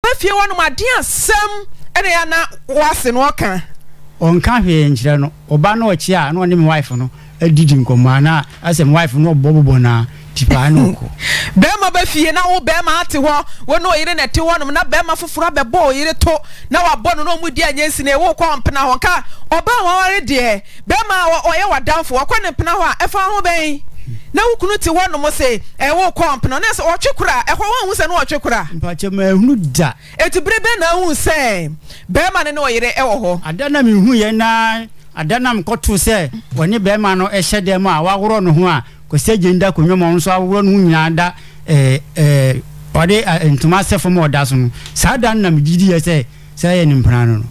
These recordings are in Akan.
Ná fie hɔnom ade asɛm na ɛyɛ a na w'ase no ɔka. Ɔnka hwee nkyerɛ no. Ɔba na ɔkye a na ɔne me wife no adidi nkɔmmɔ a na asɛ me wife no ɔbɔ bobɔ no ara tipaa na ɔkɔ. Bɛrima ba fie na wo bɛrima ate hɔ, wo ne ɔyere na ɛte hɔnom na bɛrima foforɔ abɛbɔ ɔyere to na wabɔ no na ɔmudi a ɛnyɛ nsini, wokɔ a ɔmpena hɔ nka ɔbaa waware deɛ. Bɛrima a ɔyɛ w'adamfo, wakɔ ne mpena hɔ a, ɛfa wo ho bɛn? Na wo kunu te hɔ nom se, Ɛɛ, worekɔ mpena hɔ? Na sɛ ɔtwe kora a, ɛhɔ woanhu sɛ na ɔretwe kora? Mpakyɛ, manhunu da. Enti bere bɛn na wuhuu sɛ bɛrima no ne ɔyere wɔ hɔ? Ada na mihuiɛ, na ada na mekɔtoo sɛ ɔne bɛrima no hyɛ dan mu a waworɔ ne ho a Kwasi Agyeni da akonnwa mu a ɔno nso aworɔ ne ho nyinaa da ɛɛ ɛɛ ɔde ntoma sɛ fam a ɔda so no. Saa da no na megye diiɛ sɛ Sɛ ayɛ no mpena ano no.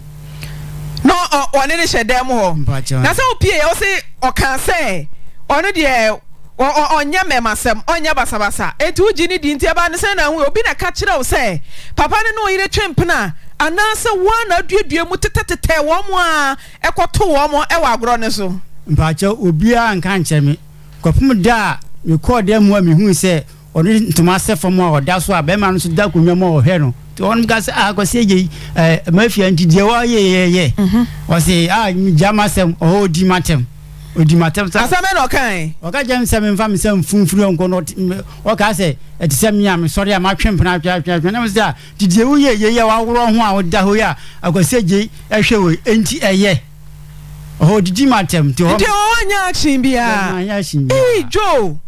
Na wɔne no hyɛ dan mu hɔ. Na sɛ ɔpieeɛ ɔse ɔkaa sɛ ɔno deɛ ɔnyɛ mmɛmasɛm, ɔnyɛ basabasa. Enti wogye no di. Nti ɛbaa no sɛ na ahu, obi na ɛka kyerɛɛ wo sɛ papa no ne wo yere twe mpena anaasɛ wo ara na aduadua mu tetɛtetɛɛ wɔn ara ɛkɔtoo wɔn wɔ agorɔ no so? Mpaakyɛw, obiara anka ankyerɛ me kɔpem da a mekɔɔ dan mu a mehui sɛ Ɔde ntoma sɛ fam a ɔda so a bɛrima no nso da akonnwa mu a ɔhwɛ no. Nti wɔn ka sɛ, ah, Kwasi Agye, eh, mafia nti deɛ wɔayɛ yɛ yɛ. Mhm. Ɔse, ah, gya m'asɛm, ɔhɔ ɔdi m'atɛm. Ɔdi m'atɛm sɛ. Asɛm bɛn na ɔkae? Ɔka kyerɛ me sɛ memfa me sɛ mfu mfiri ɔnko no. Ɔkaa sɛ, ɛte sɛ me a mesɔre a matwe mpena atwe atwe atwe. Na me sɛ, ah, nti deɛ woyɛ yɛ yi a waworɔ ho a woda hɔ yi a Akwasi Agye hwɛ wei, enti ɛyɛ? Ɔhɔ didi ma atɛm nti hɔ. Nti ɔhɔ nyɛ action biara. Bɛma nyɛ action biara. Eii Joe.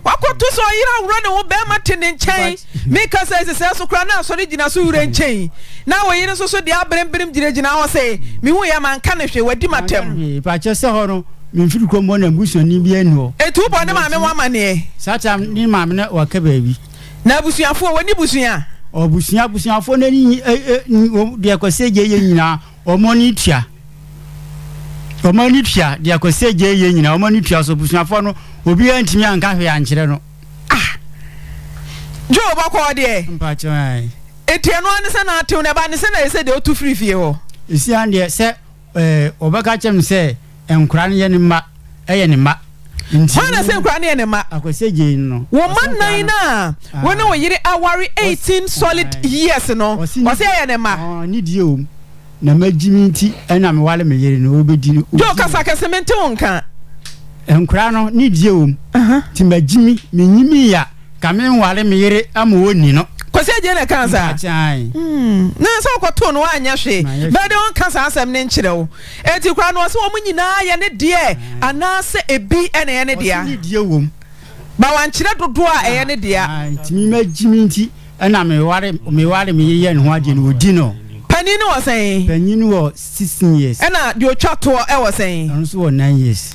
Wakɔto sɛ ɔyere aworɔ ne ho bɛɛma te ne nkyɛn meka sɛ ɛsesɛɛ so koraa na asɔre gyina so werɛ nkyɛn na oyere nso so deɛ abrem brem gyina gyina hɔ sɛ mehu yɛ manka no hwee wadi matam. Fa kyɛ sɛ hɔ no memfiri kɔ mmɔ na mbusuani bi ani hɔ. Etu bɔ ne maame ho amaneɛ. Saa tam ne maame na waka baabi. Na abusuafoɔ wɔni busua. Ɔbusua abusuafoɔ no ani deɛ kɔsɛ gye yɛ nyinaa. Wɔn ani tua. Wɔn ani tua de akɔsi agya yie nyinaa. Wɔn ani tua so abusuafoɔ no obiara ntumi anka hwee ankyerɛ no. Ah! Joe bɔkɔɔ deɛ. Mpakyɛ ae. Eti ɛno ara ne sɛ na atew na ɛba ne sɛ na ɛsɛ deɛ ɔtu firi fie hɔ. Esiane deɛ sɛ ɛɛ wɔbɛka kyɛm sɛ Nkora no yɛ ne mma, ɛyɛ ne mma. Hwan na ɛsɛ nkora no yɛ ne mma? Wo mma nnan no a wo ne wo yere aware eighteen solid years no, ɔse ɛyɛ ne mma. Nidie wom, na magyi me nti na me ware me yere no, ɔbɛdi no. Joe, kasa kɛse, mente wo nka. Nkora no, nidie wom, nti magyi me, menyi me ya, ka me nware me yere ama ɔnni no. Kwasi Agyei na ɛkaa saa? Mpakyɛ ae. Hmm, na sɛ wokɔtoo no woanyɛ hwee, bɛɛ de ɔnka saa asɛm no nkyerɛ wo. Enti koraa no, ɔse wɔn nyinaa yɛ ne deɛ anaasɛ ebi na ɛyɛ ne dea? Ɔse ne deɛ wom. But wankyerɛ dodoɔ a ɛyɛ ne dea. Ah, nti me mma gyi me nti ɛna meware, meware me yeyɛ ne ho adeɛ no, ɔdi no. Panin no wɔ sɛn? Panin no wɔ sixteen years. Ɛna deɛ ɔtwa toɔ wɔ sɛn? Ɔno nso wɔ nine years.